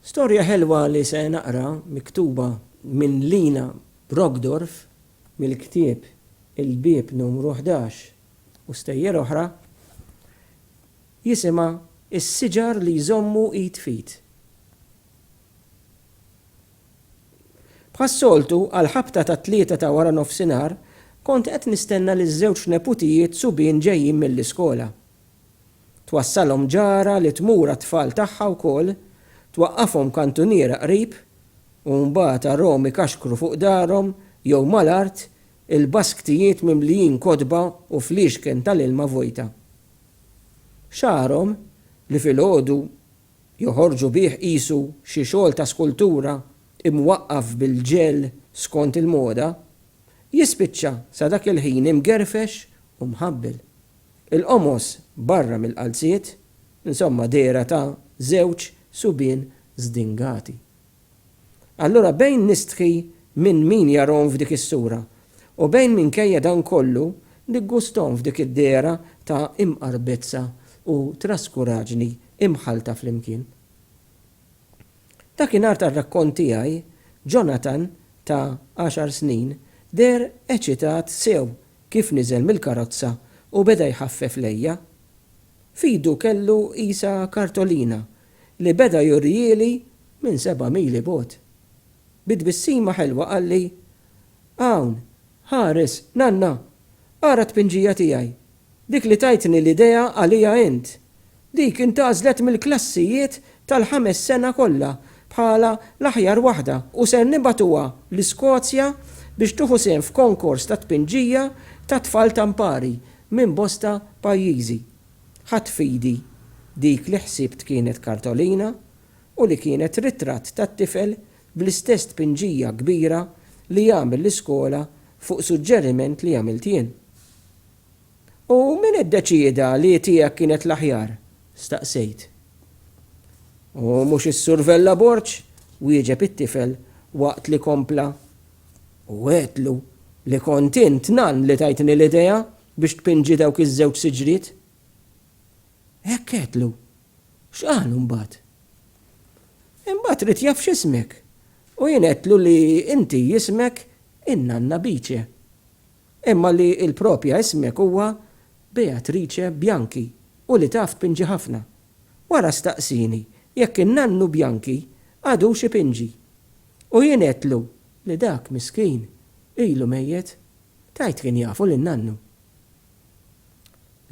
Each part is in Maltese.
Storja ħelwa li se naqra miktuba minn Lina Brockdorff mill-ktieb Il-Bieb Numru Ħdax u Stejjer Oħra jisimha Is-Siġar li Jżommu Id f'Id. Bħas-soltu, għall-ħabta tat-tlieta ta' waranofsinhar, kont qed nistenna liż-żewġ neputijiet subien ġejjin mill-iskola. Twassalhom ġara li tmur għat-tfal tagħha wkoll, twaqqafhom kantuniera qrib u mbagħad arahom ikaxkru fuq darhom jew mal-art il-basktijiet mimlijin kotba u fliexken tal-ilma vojta. Xagħarhom, li filgħodu joħorġu bih qisu xi xogħol ta' skultura imwaqqaf bil-ġel skont il-moda, jispiċċa sa dak il-ħin imgerfex u mħabbel. Il-qomos barra mill-qalziet, insomma dehra ta' żewġ subien żdingati. Allura bejn nistħi minn min jarahom f'dik is-sura u bejn minkejja dan kollu niggusthom f'dik id-dehra ta' imqarbezza u traskuraġni imħallta flimkien. Dakinhar tar-rakkont tiegħi, Jonathan ta' għaxar snin deher eċitat sew kif niżel mill-karozza u beda jħaffef lejja. F'idu kellu qisha kartolina li beda jurihieli minn seba' mil 'il bogħod. Bi tbissima ħelwa qalli, Hawn, ħares, Nanna! Ara t-tpinġija tiegħi! Dik li tajtni l-idea għaliha int. Dik intgħażlet mill-klassijiet tal-ħames sena kollha bħala l-aħjar waħda u ser nibgħatuha l-Iskozja biex tieħu sehem f'konkors ta' tpinġija ta' tfal ta' mpari minn bosta pajjiżi. Ħadt f'idi dik li ħsibt kienet kartolina u li kienet ritratt ta' tifel bl-istess tpinġija kbira li għamel l-iskola fuq suġġeriment li għamilt jien. U min iddeċieda li tiegħek kienet l-aħjar? staqsejt. U mhux is-Sur Vella Borg? wieġeb it-tifel waqt li kompla, U għedtlu li kont int nan li tajtni l-idea biex tpinġi dawk iż-żewġ siġriet. Hekk għedtlu. X'qalu mbagħad? Imbagħad ried jaf x'ismek u jien għedtlu li inti jismek in-nanna Bice. Imma li l-propja ismek huwa Beatrice Bianchi u li taf tpinġi ħafna. Wara staqsieni jekk in-nannu Bianchi għadux ipinġi. U jien għedtlu li dak miskin ilu mejjet. Tgħid kien jafu lin-nannu.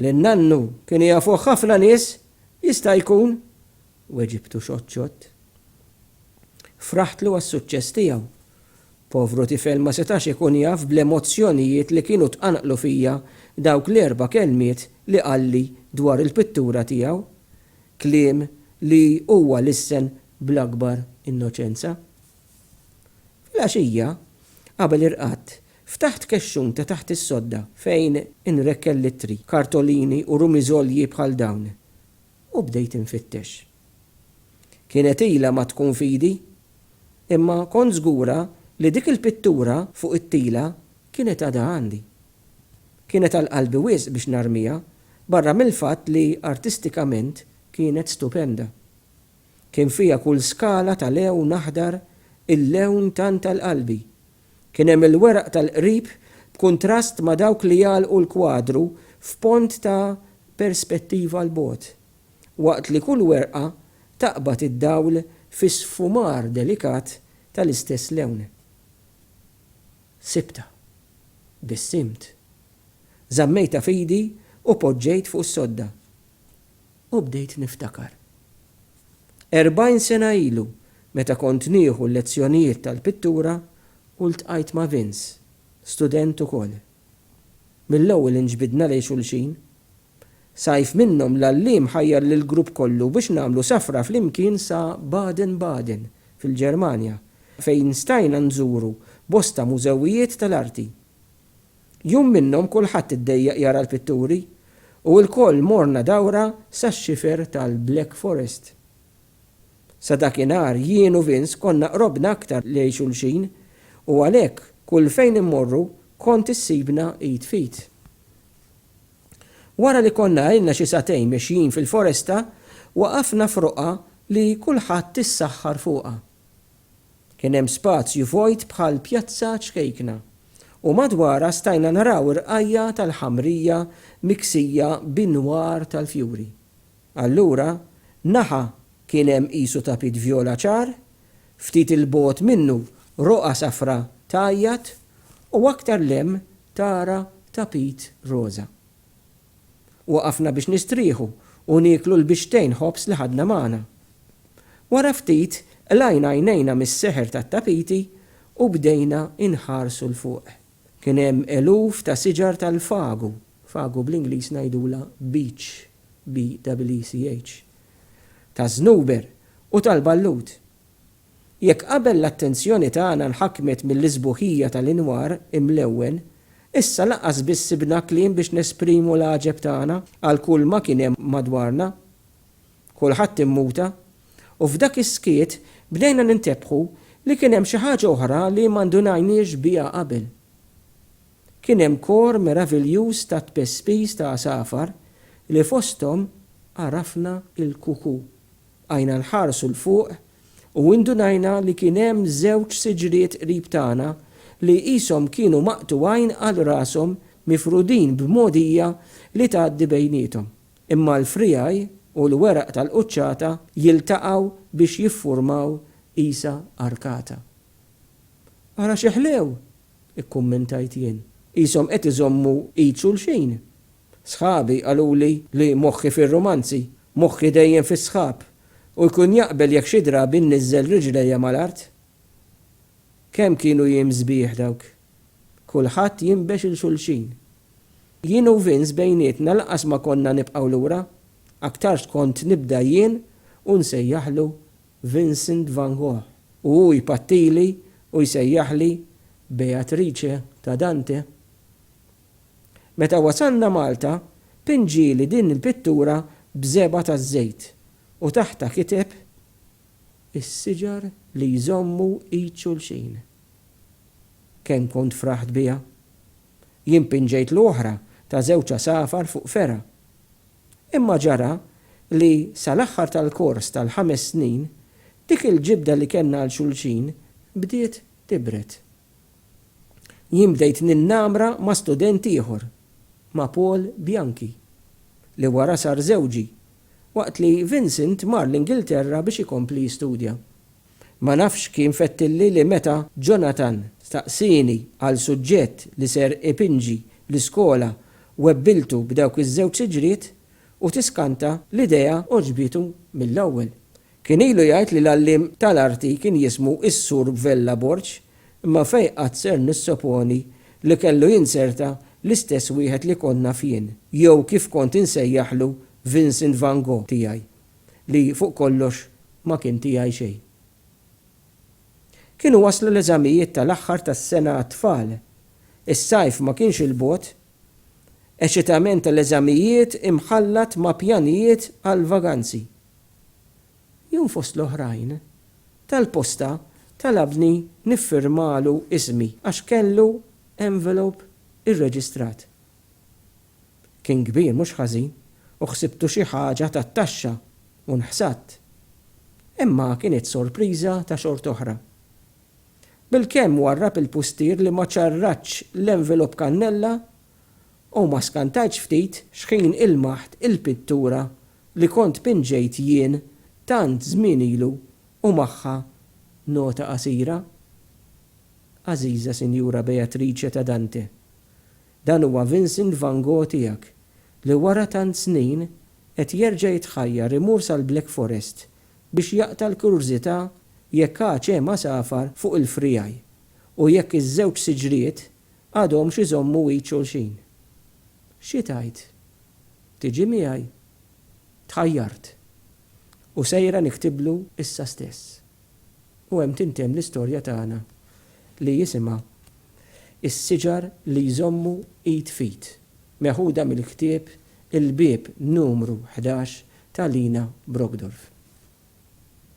Lin-nannu kienu jafuh ħafna nies, jista' jkun, Weġibtu xoċċott. Fraħtlu għas-suċċess tiegħu. Povru tifel ma setax ikun jaf bl-emozzjonijiet li kienu tqanqlu fija dawk l-erba' kelmiet li qalli dwar il-pittura tiegħu, kliem li huwa lissen bl-akbar innoċenza. Filgħaxija, qabel irqadt, ftaħt kexxun ta' taħt is-sodda fejn inrekkel l-ittri, kartolini u rumiżolji bħal dawn, u bdejt infittex. Kienet ilha ma tkun f'idi, imma kont żgura li dik il-pittura fuq it-tila kienet għadha għandi. Kienet għal qalbi wisq biex narmiha, barra mill-fatt li artistikament kienet stupenda. Kien fiha kull skala ta' lewn aħdar, il-lewn tant għal qalbi, Kien hemm il-weraq tal-qrib b'kuntrast ma' dawk li jagħlqu l-kwadru f'pont ta' perspettiva 'l bogħod, waqt li kull werqa taqbad id-dawl fi sfumar delikat tal-istess lewn. Sibtha. Bissimt. Żammejtha f'idi u poġġejt fuq is-sodda. U bdejt niftakar. Erbgħin sena ilu, meta kont nieħu l-lezzjonijiet tal-pittura u ltqajt ma' Vince, student ukoll. Mill-ewwel inġbidna lejn xulxin. Sajf minnhom l-għalliem ħajjar lill-grupp kollu biex nagħmlu safra flimkien sa Baden-Baden, fil-Ġermanja, fejn stajna nżuru bosta mużewijiet tal-arti. Jum minnhom kulħadd iddejjaq jara l-pitturi u ilkoll morna dawra sax-xifer tal-Black Forest. Sa dakinhar jien u Vince konna qrobna aktar lejn xulxin u għalhekk kull fejn immorru kont issibna id f'id. Wara li konna ilna xi sagħtejn mexjin fil-foresta waqafna f'roqgħa li kulħadd issaħħar fuqha. Kien hemm spazju vojt bħal pjazza ċkejkna, u madwarha stajna naraw irqajja' tal-ħamrija miksija b'inwar tal-fjuri. Allura, naħa kien hemm qisu tapit vjola ċar, ftit 'il bogħod minnu roqgħa safra tgħajjat, u aktar 'l hemm tara tapit roża. Waqafna biex nistrieħu u nieklu l-bixtejn ħobż li ħadna magħna. Wara ftit qlajna għajnejna mis-seħer tat-tapiti u bdejna nħarsu 'l fuq. Kien hemm eluf ta' siġar tal-fagu, fagu bl-Ingliż ngħidulha beech, BWCH, taż-żnuber u tal-ballut. Jekk qabel l-attenzjoni tagħna nħakmet mill-isbuħija tal-inwar imlewwen, issa lanqas biss sibna kliem biex nesprimu l-għaġeb tagħna għal kull ma kien hemm madwarna. Kulħadd immuta, u f'dak is-skiet bdejna nintebħu li kien hemm xi ħaġa oħra li ma ndunajniex biha qabel. Kien hemm kor meraviljuż ta' tpespis ta' għasafar li fosthom għarafna l-kuku. Bqajna nħarsu 'l fuq u indunajna li kien hemm żewġ siġriet qrib tagħna li qishom kienu maqtugħin għal rashom mifrudin b'mogħdija li tgħaddi bejniethom, imma l-friegħi u l-weraq tal-quċċata jiltaqgħu biex jiffurmaw qisha arkata. Ara xi ħlew! ikkummentajt jien. Qishom qed iżommu id xulxin! Sħabi qaluli li moħħi fir-rumanzi, moħħi dejjem fis-sħab, u jkun jaqbel jekk xi drabi nniżżel riġlejja mal-art. Kemm kienu jiem sbieħ dawk! Kulħadd jinbex 'il xulxin. Jien u Vince bejnietna lanqas ma konna nibqgħu lura, aktarx kont nibda jien u nsejjaħlu Vincent van Gogh u hu jpattili u jsejjaħli Beatrice ta' Dante. Meta wasalna Malta, Pin ġieli din il-pittura b'żebgħa taż-żejt u taħtha kiteb, Is-siġar li jżommu id xulxin. Kemm kont fraħt biha! Jien pinġejtlu oħra ta' żewġ għasafar fuq fergħa. Imma ġara li sal-aħħar tal-kors tal-ħames snin, dik il-ġibda li kellna għal xulxin bdiet tibred. Jien bdejt ninnamra ma' student ieħor, ma' Paul Bianchi, li wara sar żewġi, waqt li Vincent mar l-Ingilterra biex ikompli jistudja. Ma nafx kien fettilli li meta Jonathan staqsieni għal suġġett li ser ipinġi l-iskola webbiltu b'dawk iż-żewġ siġriet u tiskanta l-idea għoġbitu mill-ewwel. Kien ilu jgħid li l-għalliem tal-arti kien jismu s-Sur Vella Borg, imma fejn qatt ser nissoponi li kellu jinzerta l-istess wieħed li kont naf jien, jew kif kont insejjaħlu Vincent Van Gogh tiegħi, li fuq kollox ma kien tiegħi xejn. Kienu waslu l-eżamijiet tal-aħħar tas-sena għat-tfal. Is-sajf ma kienx 'il bogħod. Eċitament tal-eżamijiet imħallat ma' pjanijiet għall-vaganzi. Jum fost l-oħrajn, tal-posta talabni niffirmalu ismi għax kellu envelope irreġistrat. Kien kbir mhux ħażin u ħsibtu xi ħaġa tat-taxxa u nħsadt. Imma kienet sorpriża ta' xort'oħra. Bilkemm warrab il-pustier li ma ċarratx l-envelope kannella U ma skantajtx ftit xħin ilmaħt il-pittura li kont pinġejt jien tant żmien ilu u magħha nota qasira, Għażiża Sinjura Beatrice ta' Dante, dan huwa Vincent van Gogh tiegħek li wara tant snin qed jerġa' jitħajjar imur sal-Black Forest biex jaqta' l-kurżità jekk għadx hemm għasafar fuq il-friegħi u jekk iż-żewġ siġriet għadhomx iżommu id xulxin. Xi tgħid? Tiġi miegħi? Tħajjart. U sejra niktiblu issa stess. U hemm tintemm l-istorja tagħna li jisimha Is-siġar li jżommu id f'id, meħuda mill-ktieb Il-Bieb Numru Ħdax ta' Lina Brockdorff.